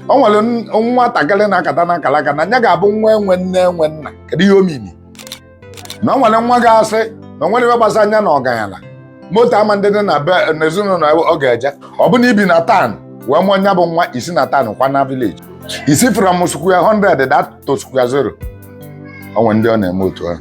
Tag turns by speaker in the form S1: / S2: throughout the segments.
S1: o nwere nwatakịrị na-akata na akalaka na nya ga-abụ nwa enwe nne enwe nna kedu ihe omini na o nwere nwa ga-asị na o nwerọ ihe gbasa nya na ọganyala moto ama adị na be n'ezinụlọ ọ ga-eje ọ bụ na i bi na town wee mụọ nya bụ nwa i si na town kwaa na village i si from square 100 daa to square 0 o nwere ndị ọ na-eme otu ahụ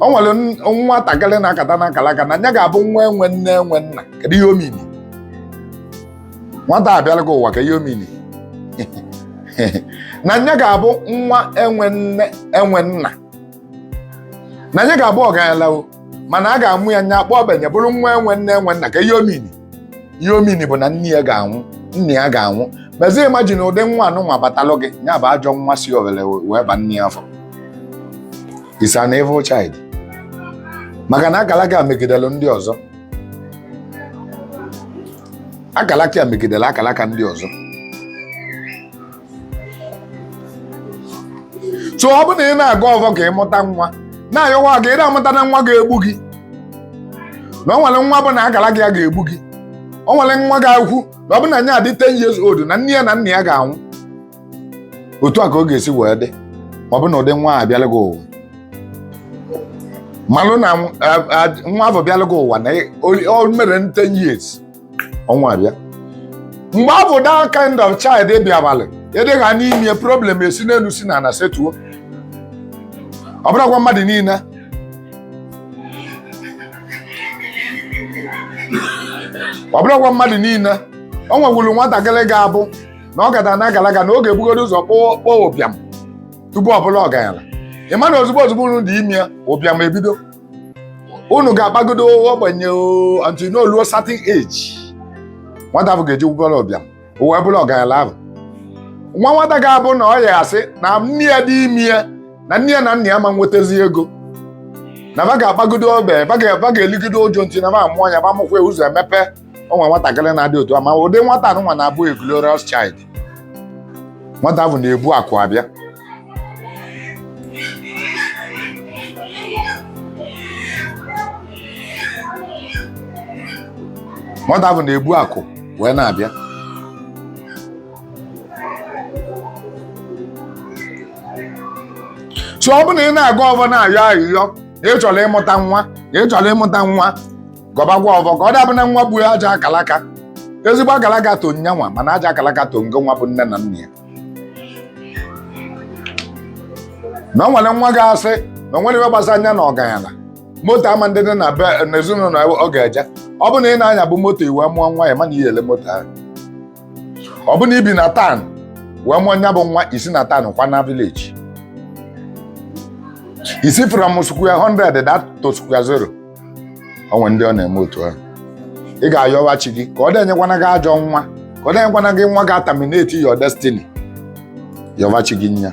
S1: o nwere nwatakịrị na-akata na akalaka na nya ga-abụ nwa enwe nne enwe nna kedu ihe omini nwata abịara gị ụwa ka ihe omini na nya ga-abụ nwa enwe nne enwe nna na nya ga-abụ ọgaranya o mana a ga-amụ ya nya akpa ogbenye bụrụ nwa enwe nne enwe nna ka ihe omini ihe omini bụ na nne ya ga-anwụ nna ya ga-anwụ mezie imagine ụdị nwa anụnwa batalụ gị ya bụ ajọ nwa si owere wee ba nne ya afọ is an evil child maka na akalaka ya megidere ndị ọzọ akalaka ya megidere akalaka ndị ọzọ so ọ bụrụ na ị na-agọ ọvọ ka ị mụta nwa na-ayọkwa ka ị amụtana nwa ga-egbu gị na o nwere nwa bụ na akalaka ya ga-egbu gị o nwere nwa ga-ekwu na ọ bụ na nya adị 10 years old na nne ya na nna ya ga-anwụ otu a ka ọ ga-esi wee dị ọ bụ na ụdị nwa a bịala gị ụwa malụ na nwa ahụ bịala gị ụwa na o mere 10 years ọnwụ abịa mgbe ọ bụ that kind of child bịa balụ ịdịghị anya ime problem esi n'elu si n'ana setuo ọ bụrọkwa mmadụ niile ọ bụrọkwa mmadụ niile o nwekwuru nwatakịrị ga-abụ na ọ kata na akalaka na ọ ga-ebugodo ụzọ kpaa ụbịam tupu ọ bụrụ ọgaranya ị ma na ozugbo ozugbo unu dị ime ya ụbịam ebido unu ga-akpagido ogbenye until unu eluo certain age nwata ahụ ga-eji bụrụ ụbịam o wee bụrụ ọgaranya ahụ o nwe nwata ga-abụ na ọ ya-asị na nne ya dị ime ya na nne ya na nna ya ama enwetazi ego na ba ga-akpagido ogbe ba ga-eligido uju until na ba amụọ ya ba mụkwa ya ụzọ emepe o nwere nwatakịrị na-adị otu a ma ụdị nwata anụnwa na-abụ a glorious child nwata ahụ na-ebu akụ abịa nwata ahụ na-ebu akụ wee na-abịa so ọ bụrụ na ị na-agọ ọvọ na-ayọ ayịyọ na ị chọrọ ịmụta nwa na ị chọrọ ịmụta nwa gọbagwa ọvọ ka ọ dabụ na nwa gbuo ajọ akalaka ezigbo akalaka to nyanwa mana ajọ akalaka to ngo nwa bụ nne na nna ya na o nwere nwa ga-asị na o nwere ihe gbasa anya na ọganyala moto ama ndị dị na be na ezinụlọ ya ọ ga-eje ọ bụ na ị na-anya bụ moto i wee mụọ nwa ya mana ihe ele moto ahụ ọ bụ na i bi na town wee mụọ nya bụ nwa i si na town kwa na village i si from square 100 that to square 0 o nwe ndị ọ na-eme otu ahụ ị ga-ayọwa chi gị ka ọ denyekwana gị ajọ nwa ka ọ denyekwana gị nwa ga-aterminate your destiny yọwa chi gị nya